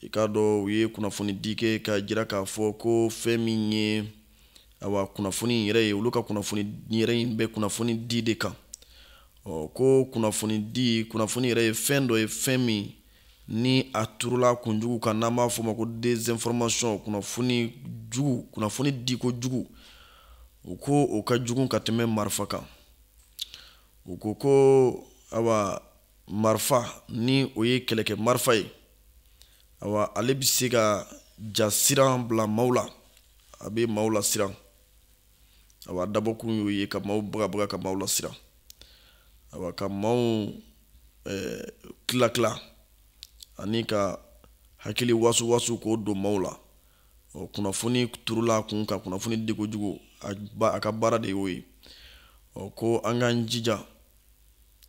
i k'a dɔn u ye kunnafoni di kɛ ka jira k'a fɔ ko fɛn min ye awa kunnafoni in yɛrɛ ye olu ka kunnafoni yɛrɛ in bɛ kunnafoni di de kan ɔ ko kunnafoni di kunnafoni yɛrɛ ye fɛn dɔ ye fɛn min ni a turula kunjugu kan n'an b'a fɔ ma ko désinformation kunnafoni jugu kunnafoni diko jugu u ko o ka jugu ka tɛmɛ marifa kan u ko ko awa marifa ni o ye kɛlɛkɛ marifa ye awa ale bɛ se ka jasiran bila maaw la a bɛ maaw lasiran awa dabɔkun y'o ye ka maaw bagabaga ka maaw lasiran awa ka maaw eh, tila tila ani ka hakili wasu wasu k'o don maaw la ɔ kunnafoni turula a kun kan kunnafoni diko jugu a ka baara de y'o ye ɔ ko an k'an jija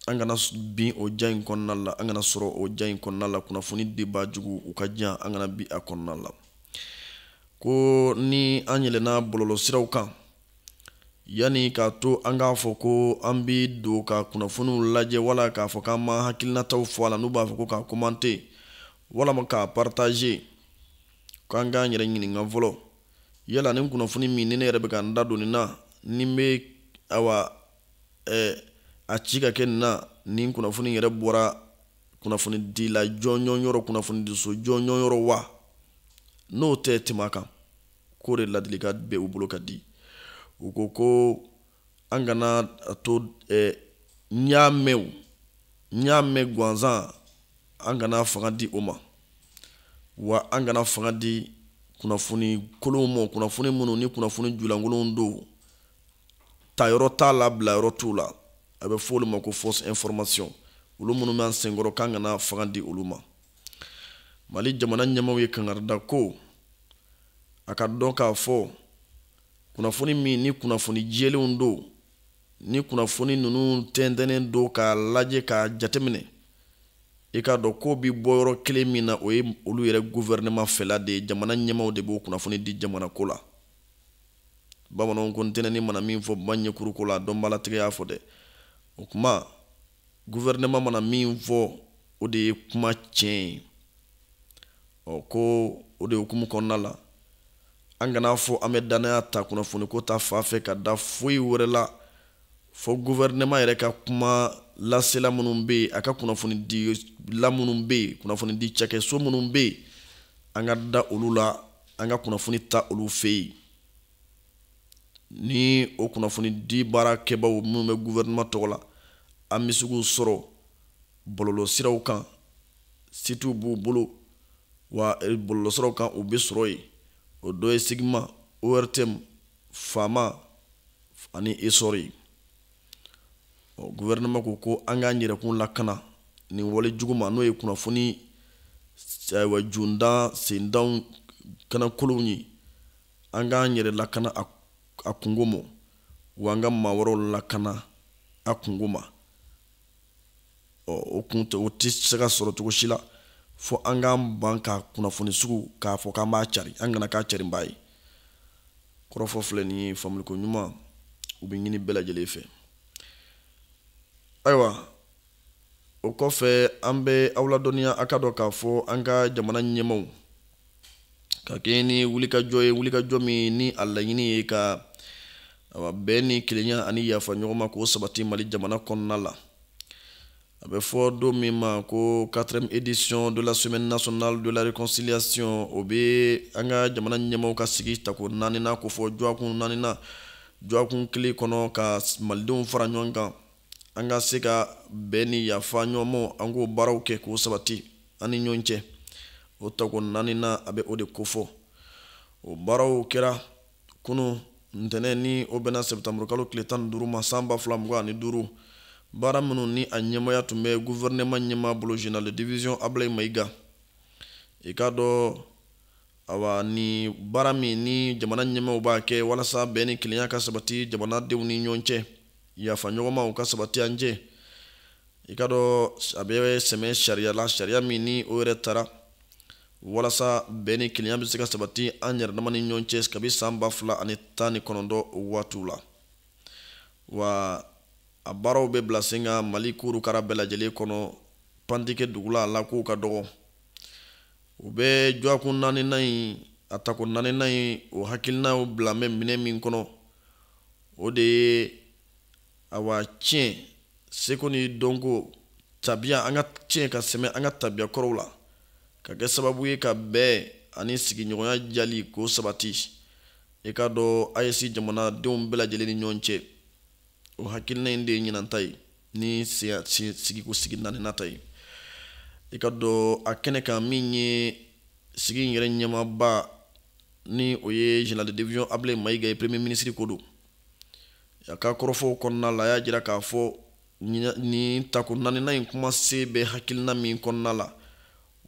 an kana bin o jan in kɔnɔna la an kana sɔrɔ o jan in kɔnɔna la kunnafoni dibaa juguw ka jan an kana bin a kɔnɔna la ko ni an yɛlɛnna bɔlɔlɔsiraw kan yanni k'a to an k'a fɔ ko an bi don ka kunnafoniw lajɛ wala k'a fɔ k'an b'an hakilinataw fɔ a la n'u b'a fɔ ko k'a komante walama k'a partaze k'an k'an yɛrɛ ɲininka fɔlɔ yala nin kunnafoni min ni ne yɛrɛ bɛ ka n da don nin na ni n bɛ awa eh, a ci ka kɛ na nin kunnafoni yɛrɛ bɔra kunnafoni dila jɔnjɔn yɔrɔ kunnafoni diso jɔnjɔn yɔrɔ wa n'o tɛ tɛmɛ a kan k'o de laadilikan bɛ u bolo ka di u ko ko an kana a to eh, n y'a mɛn o n y'a mɛn gansan an kana fanga di o ma wa an kana fanga di kunnafoni kolonw ma kunnafoni minnu ni kunnafoni julankolonw don tayɔrɔ t'a la bilayɔrɔ t'u la a bɛ fɔ olu ma ko fausse information olu minnu bɛ an senkɔrɔ k'an kana fanga di olu ma mali jamana ɲɛmaaw ye kangari da ko a k'a dɔn k'a fɔ kunnafoni min ni kunnafoni jɛlenw don ni kunnafoni ninnu tɛntɛnnen don k'a lajɛ k'a jateminɛ i k'a dɔn k'o bi bɔ yɔrɔ kelen min na o ye olu yɛrɛ guvɛrɛnɛman fɛla de ye jamana ɲɛmaaw de b'o kunnafoni di jamanako la bamananw ko ntinɛni mana min fɔ baji kɔrɔ ko la a dɔnbaalatigɛ y'a fɔ dɛ o kuma guvɛrɛnɛman mana min fɔ o de ye kuma tiɲɛ ye ɔ ko o de hukumu kɔnɔna la an kana fɔ an bɛ dannaya ta kunnafoni ko ta fan fɛ ka da foyi wɛrɛ la fo guvɛrɛnɛman yɛrɛ ka kuma lasela minnu bɛ yen a ka kunnafoni dila minnu bɛ yen kunnafoni di cakɛso minnu bɛ yen an ka da olu la an ka kunnafoni ta olu fɛ yen ni o kunnafoni di baara kɛbaaw minnu bɛ guvɛrɛnɛma tɔgɔ la an bɛ se k'u sɔrɔ bɔlɔlɔ siraw kan sitiw b'u bolo wa eh, bɔlɔlɔ siraw kan u bɛ sɔrɔ yen o dɔ ye sigima ortm fama ani esɔri ɔ guvɛrɛnɛma ko ko an k'an yɛrɛkun lakana nin wale jugu ma n'o ye kunnafoni ayiwa jundan sendanw kan lankolonw ye an k'an yɛrɛ lakana a kungo ma wa an ka maa wɛrɛw lakana a kungo ma ɔ o kun tɛ o tɛ se ka sɔrɔ cogo si la fo an k'an ban ka kunnafoni sugu k'a fɔ k'an b'a cari an kana k'a carinbaa ye kɔrɔfɔ filɛ nin ye faamuli koɲuman o bɛ ɲini bɛɛ lajɛlen fɛ ayiwa o kɔfɛ an bɛ aw ladɔnniya a k'a dɔn k'a fɔ an ka jamana ɲɛmaaw ka kɛɲɛ ni wulikajɔ ye wulikajɔ min ni a laɲini ye ka awa bɛn ni kelenya ani yafa ɲɔgɔn ma k'o sabati mali jamana kɔnɔna la a bɛ fɔ don min ma ko quatrième édition de la semaine nationale de la réconciliation o bɛ an ka jamana ɲɛmaaw ka sigi tako naaninan kofɔ jɔakun naaninan jɔakun kelen kɔnɔ ka malidenw fara ɲɔgɔn kan an ka se ka bɛn ni yafa ɲɔgɔn ma an k'o baaraw kɛ k'o sabati an ni ɲɔgɔn cɛ o tako naaninan a bɛ o de kofɔ o baaraw kɛra kunun ntɛnɛn ni o bɛnna sɛbɛtanburu kalo tile tan ni duuru ma san ba fila mugan ani duuru baara minnu ni a ɲɛmaaya tun bɛ guvɛrɛnɛma ɲɛmaa bolo général de division ablayi mayiga i k'a dɔn awa ni baara min ni jamana ɲɛmaaw b'a kɛ walasa bɛn ni kelenya ka sabati jamanadenw ni ɲɔgɔn cɛ yafa ɲɔgɔn ma o ka sabati an cɛ i k'a dɔn a bɛ sɛmɛ sariya la sariya min ni o yɛrɛ tara walasa bɛn ni kelenya bɛ se ka sabati an yɛrɛ dama ni ɲɔgɔn cɛ kabi san ba fila ani tan ni kɔnɔntɔn waatiw la wa a baaraw bɛ bila sen kan mali kurukara bɛɛ lajɛlen kɔnɔ pan tɛ kɛ dugu la a la k'o ka dɔgɔ u bɛ jɔakun naaninan in a tako naaninan in o hakilinaw bila bɛ minɛ min kɔnɔ o de ye awa ciyɛn seko ni dɔnko tabiya an ka ciyɛn ka sɛmɛ an ka tabiya kɔrɔw la ka kɛ sababu ye ka bɛn ani sigiɲɔgɔnya jali k'o sabati i k'a dɔn aes jamanadenw bɛɛ lajɛlen ni ɲɔgɔn cɛ o hakilina in de ye ɲinan ta ye ni sigiko sigi naaninan ta ye i k'a dɔn a kɛnɛ kan min ye sigi in yɛrɛ ɲɛmaaba ni o ye général de division Ablaye Mayiga ye premier ministre ko don a ka kɔrɔfɔw kɔnɔna la a y'a jira k'a fɔ nin tako naaninan in kumasen bɛ hakilina min kɔnɔna la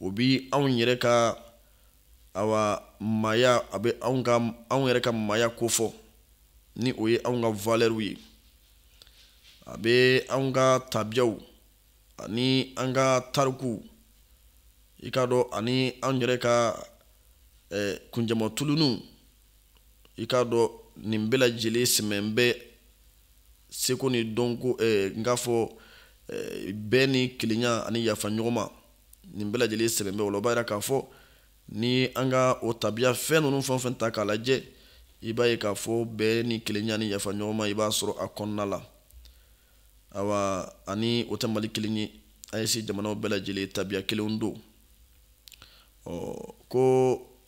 o bi anw yɛrɛ ka awa maaya a bɛ anw ka anw yɛrɛ ka maaya kofɔ ni o ye anw ka valɛriw ye a bɛ anw ka tabiyaw ani an ka tarikuw i k'a dɔn ani an yɛrɛ ka eh, kunjama tuluniw i k'a dɔn nin bɛɛ lajɛlen sɛmɛn bɛ seko ni dɔnko eh, n k'a fɔ eh, bɛn ni kelenya ani yafa ɲɔgɔn ma nin bɛɛ lajɛlen sɛmɛn bɛ o la o b'a jira k'a fɔ ni an ka o tabiya fɛn ninnu fɛn o fɛn ta k'a lajɛ i b'a ye k'a fɔ bɛn ni kelenya ani yafa ɲɔgɔn ma i b'a sɔrɔ a kɔnɔna la awa ani o tɛ mali kelen ye AES jamanaw bɛɛ lajɛlen tabiya kelenw don ɔ ko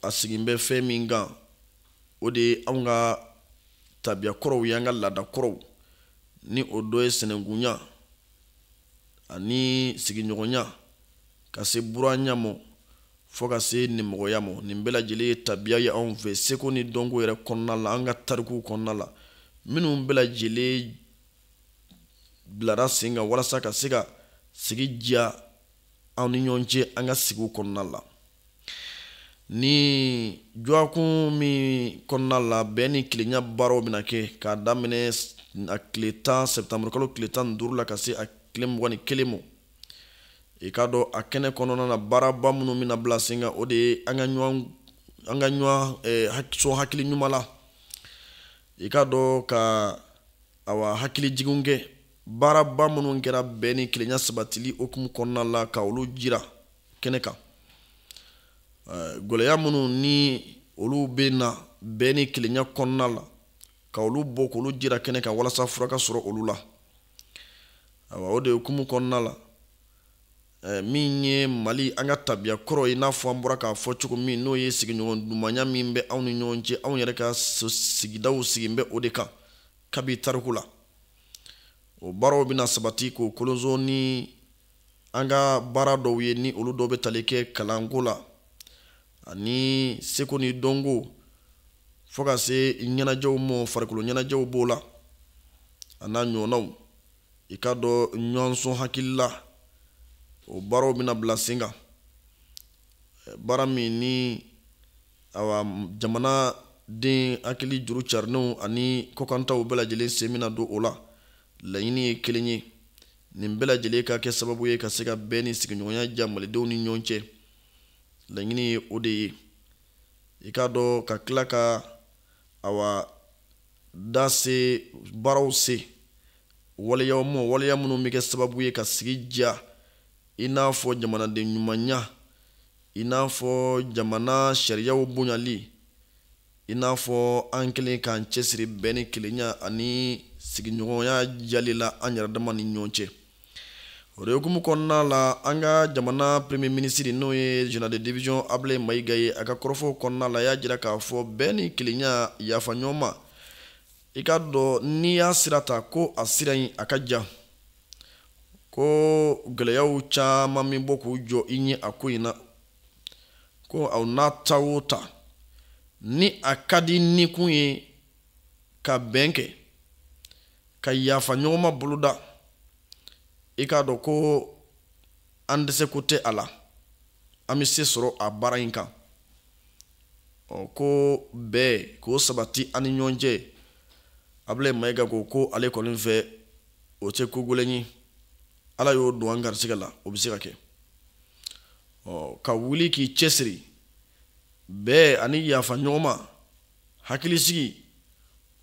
a sigin bɛ fɛn min kan o de ye anw ka tabiya kɔrɔw ye an ka laada kɔrɔw ni o dɔ ye sinankunya ani sigiɲɔgɔnya ka se buranya mɔ fo ka se nimɔgɔya mɔ nin bɛɛ lajɛlen ye tabiya ye anw fɛ seko ni dɔnko yɛrɛ kɔnɔna la an ka tarikuw kɔnɔna la minnu bɛɛ lajɛlen bilara sen kan walasa ka se ka sigi diya an ni ɲɔgɔn cɛ an ka sigiw kɔnɔna la ni dɔgɔkun min kɔnɔna la bɛn ni kelenya baaraw bɛna kɛ k'a daminɛ a tile tan septembre kalo tile tan ni duuru la ka se a tile mugan ni kelen ma i k'a dɔn a kɛnɛ kɔnɔna na baaraba minnu bɛna bila sen kan o de ye an ka ɲɔgɔn an ka ɲɔgɔn eh, sɔn hakili ɲuman la i k'a dɔn ka awa hakilijiginw kɛ baaraba minnu kɛra bɛn ni kelenya sabatili hukumu kɔnɔna la ka olu jira kɛnɛ kan gɛlɛya minnu ni olu bɛnna bɛn ni kelenya kɔnɔna la ka olu bɔ k'olu jira kɛnɛ kan walasa fura ka sɔrɔ olu la awa o de hukumu kɔnɔna la Eh, min ye mali an ka tabiya kɔrɔ ye n'a fɔ an bɔra k'a fɔ cogo min n'o ye sigiɲɔgɔn dumanya min bɛ anw ni ɲɔgɔn cɛ anw yɛrɛ ka sigidaw sigin bɛ o de kan kabi tariku la o baaraw bɛna sabati k'o kolonso ni an ka baara dɔw ye ni olu dɔw bɛ tali kɛ kalanko la ani seko ni dɔnko fo ka se ɲɛnajɛw ma farikolo ɲɛnajɛw b'o la a n'a ɲɔgɔnnaw i k'a dɔn ɲɔgɔn sɔn hakili la o baaraw bɛna bila sen kan baara min ni awa jamanaden hakili juru carinenw ani kɔkantaw bɛɛ lajɛlen sen bɛna don o la laɲini ye kelen ye nin bɛɛ lajɛlen ka kɛ sababu ye ka se ka bɛn ni sigiɲɔgɔnya diya malidenw ni ɲɔgɔn cɛ laɲini ye o de ye i k'a dɔn ka tila ka awa da se baaraw se waleyaw ma waleya minnu bɛ kɛ sababu ye ka sigi diya i n'a fɔ jamanaden ɲumanya i n'a fɔ jamana sariyaw bonyali i n'a fɔ an kɛlen k'an cɛsiri bɛn ni kelenya ani sigiɲɔgɔnya diyali la an yɛrɛ dama ni ɲɔgɔn cɛ o de hukumu kɔnɔna la an ka jamana premier ministre n'o ye général de division ablaye mayiga ye a ka kɔrɔfɔw kɔnɔna la y'a jira k'a fɔ bɛn ni kelenya yafa ɲɔgɔn ma i k'a dɔn n'i y'a sira ta ko a sira in a ka jan ko gɛlɛyaw caman bɛ bɔ k'u jɔ i ɲɛ a ko in na ko aw n'a ta o ta ni a ka di ni kun ye ka bɛn kɛ ka yafa ɲɔgɔn ma boloda i k'a dɔn ko an dɛsɛko tɛ a la an bɛ se sɔrɔ a baara in kan ɔ ko bɛn ko sabati an ni ɲɔgɔn cɛ ablaye mayiga ko ko ale kɔni fɛ o tɛ ko gɛlɛn ye ala y'o don an garisigɛ la o bɛ se ka kɛ ɔ ka wuli k'i cɛsiri bɛn ani yafa ɲɔgɔn ma hakilisigi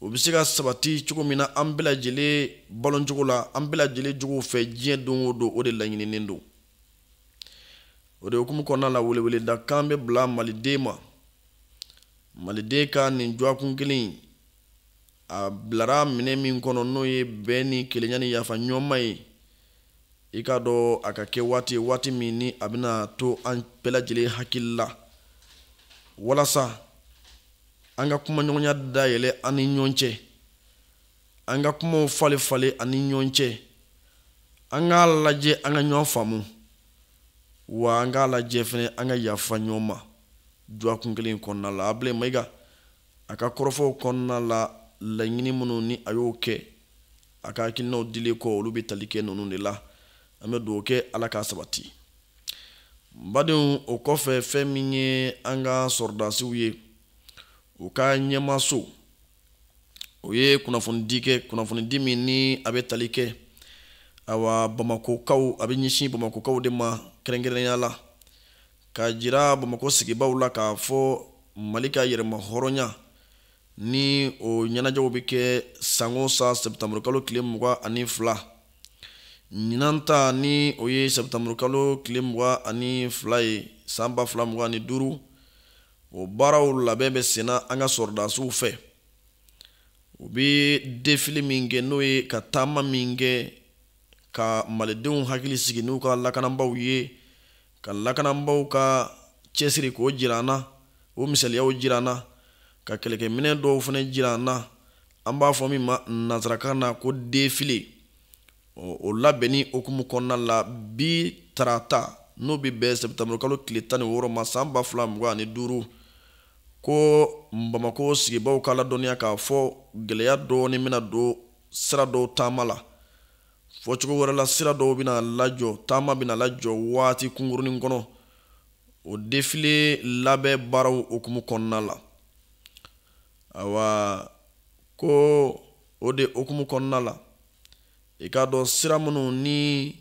o bɛ se ka sabati cogo min na an bɛɛ lajɛlen baloncogo la an bɛɛ lajɛlen jogow fɛ diɲɛ don o don o de laɲininen don o de hukumu kɔnɔna la weleweleda kan bɛ bila maliden ma maliden ka nin dɔgɔkun kelen in a bilara minɛn min kɔnɔ n'o ye bɛn ni kelenya ni yafa ɲɔgɔn ma ye i k'a dɔn a ka kɛ waati ye waati min ni a bɛna to an bɛɛ lajɛlen hakili la walasa an ka kumaɲɔgɔnya dayɛlɛ an ni ɲɔgɔn cɛ an ka kumaw falen falen an ni ɲɔgɔn cɛ an k'a lajɛ an ka ɲɔgɔn faamu wa an k'a lajɛ fɛnɛ an ka yafa ɲɔgɔn ma dɔgɔkun kelen kɔnɔna la ablaye mayiga a ka kɔrɔfɔw kɔnɔna la laɲini minnu ni a y'o kɛ a ka hakilinaw dili kɔ olu bɛ tali kɛ ninnu de la an bɛ dugawu kɛ ala k'a sabati badenw o kɔfɛ fɛn min ye an ka sɔrɔdasiw ye u ka ɲɛmaaso o ye kunnafonidi kɛ kunnafonidi min ni a bɛ tali kɛ awa bamakokaw a bɛ ɲɛsin bamakokaw de ma kɛrɛnkɛrɛnnenya la k'a jira bamako sigibaw la k'a fɔ mali ka yɛrɛmahɔrɔnya ni o ɲɛnajɛw bɛ kɛ san o san sɛptanburukalo tile mugan ani fila ɲinan ta ni o ye sɛptanburukalo tile mugan ani fila ye san ba fila mugan ni duuru o baaraw labɛn bɛ senna an ka sɔrɔdasiw fɛ u bɛ defile min kɛ n'o ye ka taama min kɛ ka malidenw hakili sigi n'u ka lakanabaaw ye ka lakanabaw ka cɛsiri k'o jira an na o misaliyaw jira an na ka kɛlɛkɛminɛ dɔw fana jira an na an b'a fɔ min ma nanzarakan na ko defile o labɛnni hukumu kɔnɔna la bi tarata n'o bɛ bɛn sɛptanburu kalo tile tan ni wɔɔrɔ ma san ba fila mugan ani duuru ko bamakɔ sigibaaw ka ladɔnniya k'a fɔ gɛlɛya dɔɔni bɛna don sira dɔw taama la fɔcogo wɛrɛ la sira dɔw bɛna lajɔ taama bɛna lajɔ waati kunkurunin kɔnɔ o defile labɛn baaraw hukumu kɔnɔna la awa ko o de hukumu kɔnɔna la i k'a dɔn sira minnu ni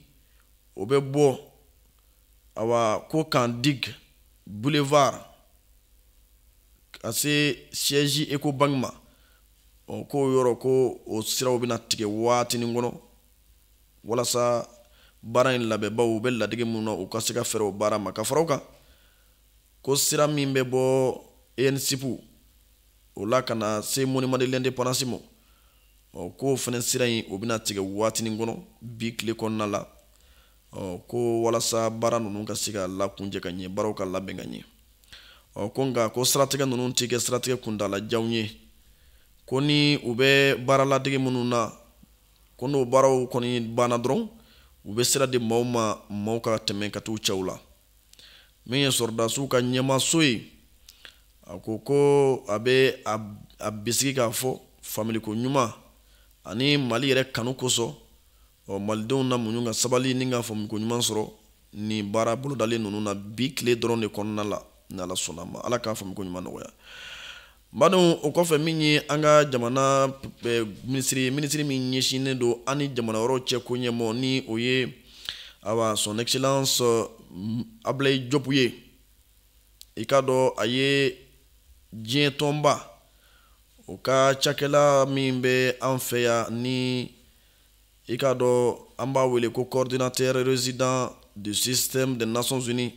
o bɛ bɔ awa ko kan dig boulevard ka se siège ecobank ma ɔ k'o yɔrɔ ko o siraw bɛna tigɛ waatinin kɔnɔ walasa baara in labɛnbaw u bɛ ladege minnu na u ka se ka fɛɛrɛ o baara ma ka fara o kan ko sira min bɛ bɔ ensup o la ka na se monument de l'indépendance ma ɔ k'o fana sira in o bɛna tigɛ waatinin kɔnɔ bi tile kɔnɔna la ko walasa baara ninnu ka se ka lakuncɛ ka ɲɛ baaraw ka labɛn ka ɲɛ ko nka ko siratigɛ ninnu tɛ kɛ siratigɛ kuntalajanw ye ko ni u bɛ baaraladege minnu na ko n'o baaraw kɔni banna dɔrɔn u bɛ sira di maaw ma maaw ka tɛmɛ ka t'u cɛw la min ye sɔrɔdasiw ka ɲɛmaaso ye a ko ko a bɛ a bisigi k'a fɔ faamuliko ɲuman ani mali yɛrɛ kanu kosɔn ɔ malidenw na muɲu ka sabali ni ka faamuko ɲuman sɔrɔ nin baara bolodalen ninnu na bi tile dɔrɔn de kɔnɔna la ni ala sɔnna ma ala k'a faamuko ɲuman nɔgɔya badenw o kɔfɛ min ye an ka jamana eh, minisiri ye minisiri min ɲɛsinnen don an ni jamana wɛrɛw cɛ ko ɲɛmɔgɔ ni o ye awa son excellence mm, ablaye diop ye i k'a dɔn a ye diɲɛ tɔnba o ka cakɛla min bɛ an fɛ yan ni i k'a dɔn an b'a wele ko coordinateur résident du système des nations unies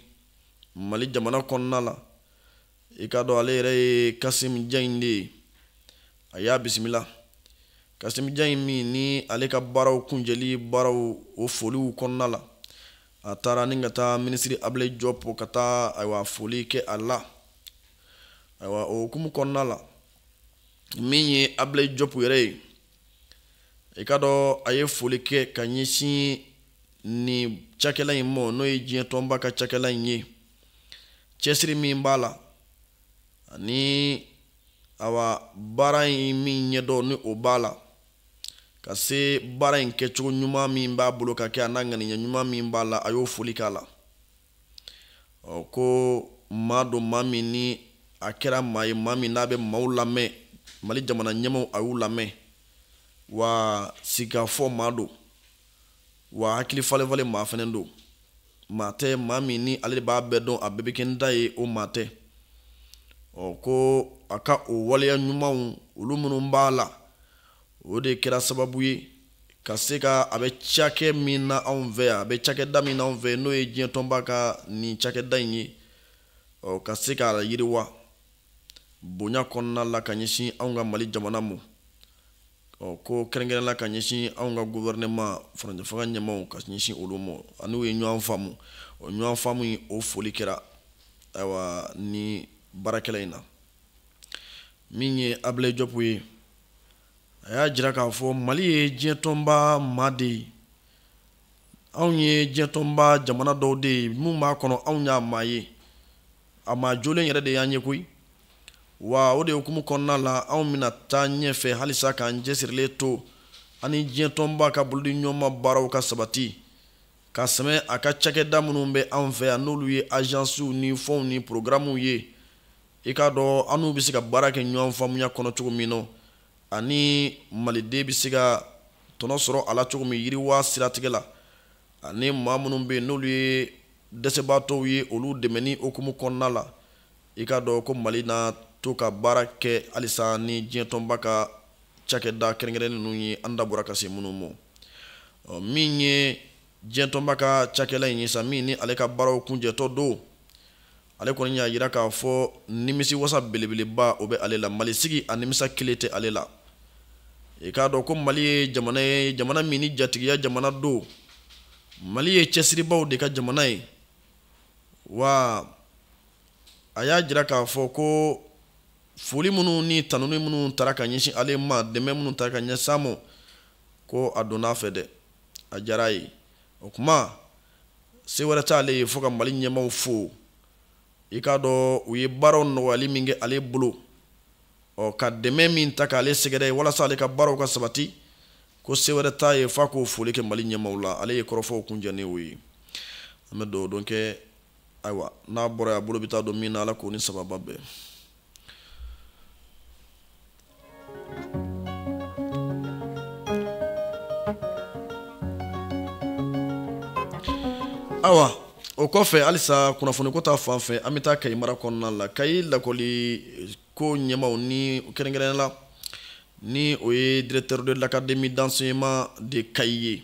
mali jamana kɔnɔna la i k'a dɔn ale yɛrɛ ye kasim jaɲi de ye a y'a bisimila kasim jaɲi min ni ale ka baaraw kuncɛli baaraw o foliw kɔnɔna la a taara ni ka taa minisiri ablayi jɔpu ka taa ayiwa foli kɛ a la ayiwa o hukumu kɔnɔna la min ye ablayi jɔpu yɛrɛ ye i k'a dɔn a ye foli kɛ ka ɲɛsin nin cakɛla in mɔ n'o ye diɲɛ tɔnba ka cakɛla in ye cɛsiri min b'a la ani awa baara in min ɲɛdɔn ni o b'a la ka se baara in kɛcogo ɲuman min b'a bolo ka kɛ a n'a ŋaniya ɲuman min b'a la a y'o foli k'a la ɔ ko maa don maa min ni a kɛra maa ye maa min n'a bɛ maaw lamɛn mali jamana ɲɛmaaw a y'u lamɛn wa sigikafɔ maa don wa hakili falenfalen maa fɛnɛ don maa tɛ maa min ni ale de b'a bɛɛ dɔn a bɛɛ bɛ kɛ n ta ye o maa tɛ ɔ ko a ka o waleya ɲumanw olu minnu b'a la o de kɛra sababu ye ka se ka a bɛ cakɛ min na anw fɛ yan a bɛ cakɛda min na anw fɛ n'o ye diɲɛ tɔnba ka nin cakɛda in ye ɔ ka se k'a yiriwa bonya kɔnɔna la ka ɲɛsin anw ka mali jamana mɔ ɔ ko kɛrɛnkɛrɛn la ka ɲɛsin anw ka guvɛrɛnɛma furancɛfanga ɲɛmaaw ka ɲɛsin olu mɔ an'u ye ɲɔgɔn faamu o ɲɔgɔn faamu in o foli kɛra ayiwa ni baarakɛla in na min ye ablaye jɔpu ye a y'a jira k'a fɔ mali ye diɲɛtɔnba maa de ye anw ye diɲɛtɔnba jamana dɔw de ye minnu b'a kɔnɔ anw y'a maa ye a maa jolen yɛrɛ de y'an ye koyi wa o de hukumu kɔnɔna la anw bɛna taa ɲɛfɛ halisa k'an cɛsirilen to ani diɲɛtɔnba ka bolodi ɲɔgɔnma baaraw ka sabati ka sɛmɛ a ka cakɛda minnu bɛ anw fɛ yan n'olu ye ajansiw ni fɔnw ni porogaramuw ye i k'a dɔn an n'u bɛ se ka baara kɛ ɲɔgɔn faamuya kɔnɔ cogo min na ani maliden bɛ se ka tɔnɔ sɔrɔ a la cogo min yiriwa siratigɛ la ani maa minnu bɛ yen n'olu ye dɛsɛbaatɔw ye olu dɛmɛni hukumu kɔnɔna la i k'a dɔn ko mali na to ka baara kɛ halisa ni diɲɛtɔnba ka cakɛda kɛrɛnkɛrɛn ninnu ye an da bɔra ka se minnu ma min ye diɲɛtɔnba ka cakɛla in ye sa min ni ale ka baaraw kuncɛtɔ don ale kɔni y'a jira k'a fɔ nimisiwasa belebeleba o bɛ ale la mali sigi a nimisa kelen tɛ ale la i k'a dɔn ko mali ye jamana ye jamana min ni jatigiya jamana don mali ye cɛsiribaaw de ka jamana ye wa a y'a jira k'a fɔ ko foli minnu ni tanuni minnu taara ka ɲɛsin ale ma dɛmɛ minnu taara ka ɲɛsin a ma ko a donna a fɛ dɛ a diyara a ye o tuma se wɛrɛ t'ale ye fo ka mali ɲɛmaaw fo i k'a dɔn u ye baaraw nɔgɔyali min kɛ ale bolo ɔ ka dɛmɛ min ta k'ale sɛgɛrɛ walasa ale ka baaraw ka sabati ko se wɛrɛ t'a ye f'a k'o foli kɛ mali ɲɛmaaw la ale ye kɔrɔfɔw kuncɛ ni o ye an bɛ dugawu don kɛ ayiwa n'a bɔra yan a bolo bɛ taa don min na ala k'o ni sababa bɛn awa o kɔfɛ halisa kunnafoniko ta fan fɛ an bɛ taa kayi mara kɔnɔna la kayi lakɔliko ɲɛmaaw ni kɛrɛnkɛrɛnnenya la ni o ye directeur de l'académie d'enseignement de kayi ye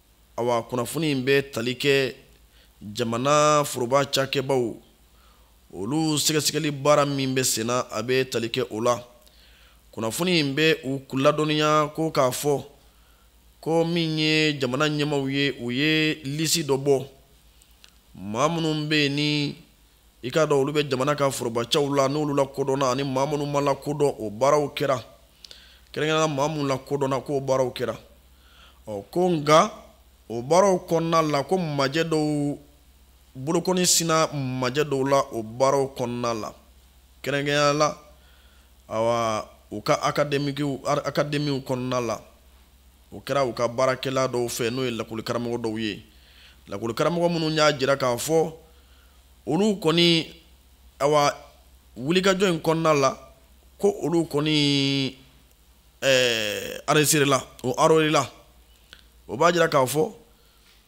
awa kunnafoni in bɛ tali kɛ jamana foroba cakɛbaw olu sɛgɛsɛgɛli baara min bɛ senna a bɛ tali kɛ o la kunnafoni in bɛ u ladɔnniya ko k'a fɔ ko min ye jamana ɲɛmaaw ye u ye lisi dɔ bɔ maa minnu bɛ yen ni i k'a dɔn olu bɛ jamana ka forobacɛw la n'olu lakodɔnna ani maa minnu ma lakodɔn o baaraw kɛra kɛrɛnkɛrɛnnenya la maa minnu lakodɔnna k'o baaraw kɛra ɔ ko nka o baaraw kɔnɔna la ko majɛ dɔw bolokɔni sinna majɛ dɔw la o baaraw kɔnɔna la kɛrɛnkɛrɛnnenya la awa u ka akademikiw akademiw kɔnɔna la o kɛra u ka baarakɛla dɔw fɛ n'o ye lakɔlikaramɔgɔ dɔw ye lakɔlikaramɔgɔ minnu y'a jira k'a fɔ olu kɔni awa wulikajɔ in kɔnɔna la ko olu kɔni eh, enregistréla o enrôléla o b'a jira k'a fɔ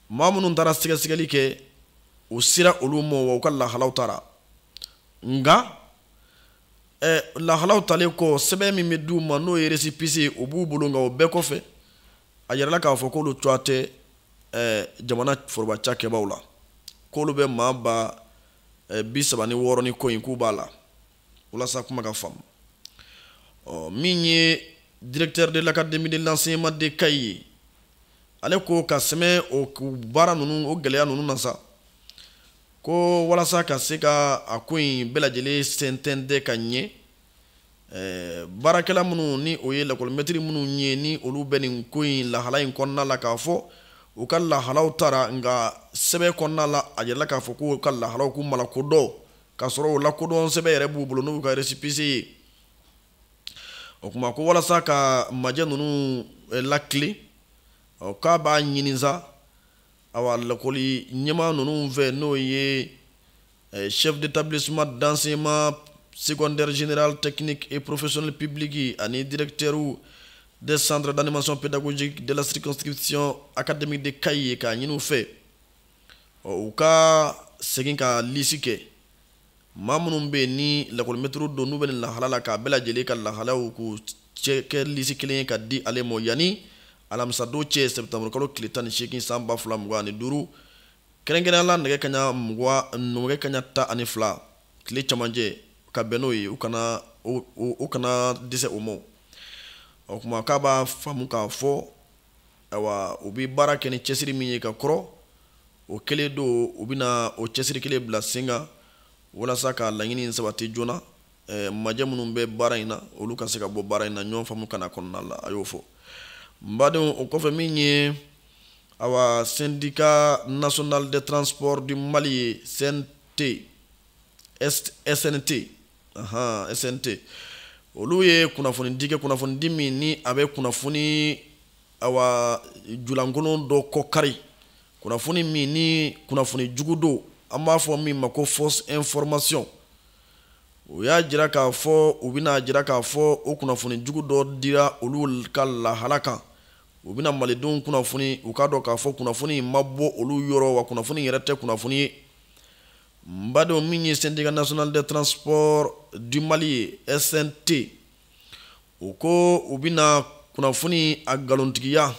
maa minnu taara sɛgɛsɛgɛli kɛ u sera olu ma wa u ka lahalaw tara nka eh, lahalaw talen kɔ sɛbɛn min bɛ di u ma n'o ye récépissé ye o b'u bolo nka o bɛɛ kɔfɛ a yirala k'a fɔ k'olu cogoya tɛ eh, jamana foroba cakɛbaw la k'olu bɛ maa ba eh, bi saba ni wɔɔrɔ ni kɔ in k'u b'a la walasa kuma ka faamu ɔ min ye directeur de l'académie de l'enseignement de kayi ye ale ko ka sɛmɛ o baara ninnu o gɛlɛya ninnu na sa ko walasa ka se ka a ko in bɛɛ lajɛlen sɛnsɛn ka ɲɛ Eh, baarakɛla minnu ni o ye lakɔlimɛtiri minnu ye ni olu bɛ nin ko in lahala in kɔnɔna la k'a fɔ u ka lahalaw tara nka sɛbɛn kɔnɔna la a jirala k'a fɔ k'u ka lahalaw k'u ma lakodɔn k'a sɔrɔ o lakodɔn sɛbɛn yɛrɛ b'u bolo n'u ka resipise ye o kuma ko walasa ka majɛ ninnu eh, lakile k'a b'a ɲini sa awa lakɔli ɲɛmaa ninnu fɛ n'o ye eh, chef d'établissement d'enseignement secondaire général technique et professionnel public ye ani directeurw des centres d'animation pédagogique de la circonscription académique de Kayes k'a ɲini u fɛ u ka segin ka lisi kɛ maa minnu bɛ yen ni lakɔlimɛtiriw don n'u bɛ nin lahala la k'a bɛɛ lajɛlen ka lahalaw k'u cɛ kɛ lisi kelen ye ka di ale ma yanni alamisadon cɛ septembre kalo tile tan ni seegin san ba fila mugan ani duuru kɛrɛnkɛrɛnnenya la nɛgɛ kaɲa mugan nɛgɛ kaɲa tan ani fila tile cɛmancɛ ka bɛn n'o ye u kana u kana dɛsɛ o ma o kuma k'a b'a faamu k'a fɔ ayiwa u bɛ baara kɛ ni cɛsiri min ye ka kɔrɔ o kelen don u bɛna o cɛsiri kelen bila sen kan walasa ka laɲini sabati joona Eh, majɛ minnu bɛ baara in na olu ka se ka bɔ baara in na ɲɔgɔn faamu kana kɔnɔna la a y'o fɔ n badenw o kɔfɛ min ye awa syndicat national de transport du mali ye snt snt snt olu ye kunnafonidi kɛ kunnafonidi min ni a bɛ kunnafoni awa julankolon dɔ kɔ kari kunnafoni min ni kunnafoni jugu don an b'a fɔ min ma ko fausse information u y'a jira k'a fɔ u bɛna jira k'a fɔ o kunnafoni jugu dɔ dira olu ka lahala kan u bɛna malidenw kunnafoni u k'a dɔn k'a fɔ kunnafoni ma bɔ olu yɔrɔ wa kunnafoni yɛrɛ tɛ kunnafoni ye n badenw min ye syndicat national de transport du mali ye snt u ko u bɛna kunnafoni a nkalontigiya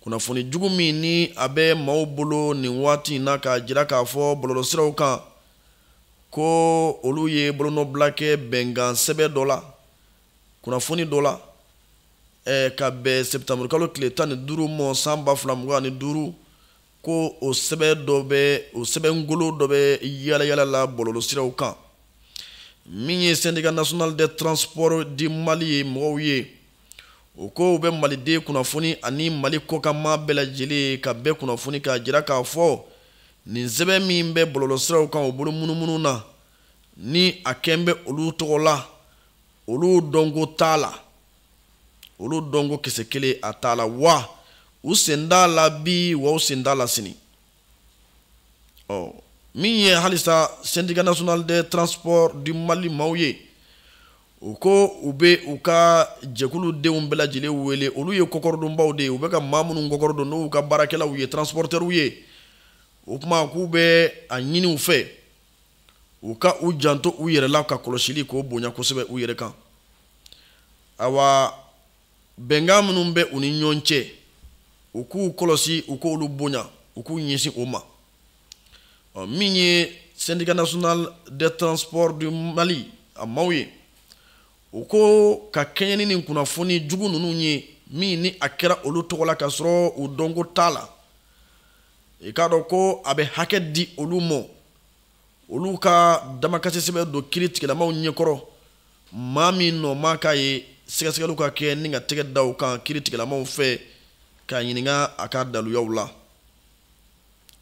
kunnafoni jugu min ni a bɛ maaw bolo nin waati in na k'a jira k'a fɔ bɔlɔlɔsiraw kan ko olu ye bolonɔbila kɛ bɛnkan sɛbɛn dɔ la kunnafoni dɔ la eh, ka bɛn septembre kalo tile tan ni duuru ma san ba fila mugan ni duuru ko o sɛbɛn dɔ bɛ o sɛbɛngolo dɔ bɛ yaalayaala la bɔlɔlɔsiraw kan min ye syndicat national de transport du mali ye mɔgɔw ye u ko u bɛ maliden kunnafoni ani mali kɔkanmaa bɛɛ lajɛlen ka bɛɛ kunnafoni k'a jira k'a fɔ nin sɛbɛn min bɛ bɔlɔlɔsiraw kan o bolo munumunu na ni a kɛn bɛ olu tɔgɔ la olu dɔnko t'a la olu dɔnko kisɛ kelen a t'a la wa u sen t'a la bi wa u sen t'a la sini ɔ min ye halisa syndicat national de transport du mali maaw ye u ko u bɛ u ka jɛkulu denw bɛɛ lajɛlen wele olu ye kɔkɔrɔdonbaw de ye u bɛ ka maa minnu kɔkɔrɔdon n'u ka baarakɛlaw ye transportɛriw ye o kuma k'u bɛ a ɲini u fɛ u ka u janto u yɛrɛ la ka kɔlɔsili k'o bonya kosɛbɛ u yɛrɛ kan awa bɛnkan minnu bɛ u ni ɲɔgɔn cɛ u k'u kɔlɔsi u k'olu bonya u k'u ɲɛsin o ma ɔ min ye syndicat national de transport du mali a maaw ye u ko ka kɛɲɛ ni nin kunnafoni jugu ninnu ye min ni a kɛra olu tɔgɔ la k'a sɔrɔ u dɔnko t'a la i k'a dɔn ko a bɛ hakɛ di olu ma olu ka damakasi sɛbɛn don kiritigɛlamaw ɲɛkɔrɔ maa min nɔ maa k'a ye sɛgɛsɛgɛliw ka kɛ ni ka tɛgɛ da u kan kiritigɛlamaw fɛ k'a ɲininka a ka daluyaw la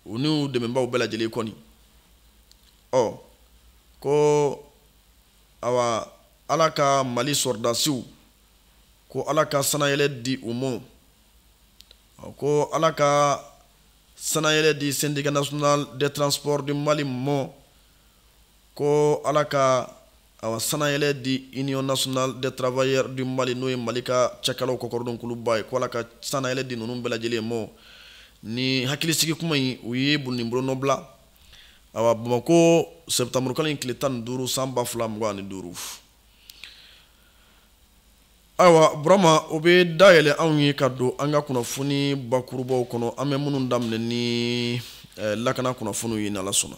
u n'u dɛmɛbaaw bɛɛ lajɛlen kɔni ɔ ko awa ala ka mali sɔrɔdasiw ko ala ka sanayɛlɛ di u ma ko ala ka sanayɛlɛ di syndicat national de transport du mali mɔ ko ala ka awa sanayɛlɛ di union nationale des travailleurs du mali n'o ye mali ka cakɛlaw kɔkɔrɔdon kuluba ye ko ala ka sanayɛlɛ di ninnu bɛɛ lajɛlen mɔ ni hakilisigi kuma in u ye bolo ni bolonɔ bila awa bamako sɛptamurukalo in tile tan ni duuru san ba fila mugan ni duuru ayiwa burama o bɛ da yɛlɛ anw ye ka don an ka kunnafoni bakurubaw kɔnɔ an bɛ minnu daminɛ ni eh, lakana kunnafoniw ye n'ala sɔnna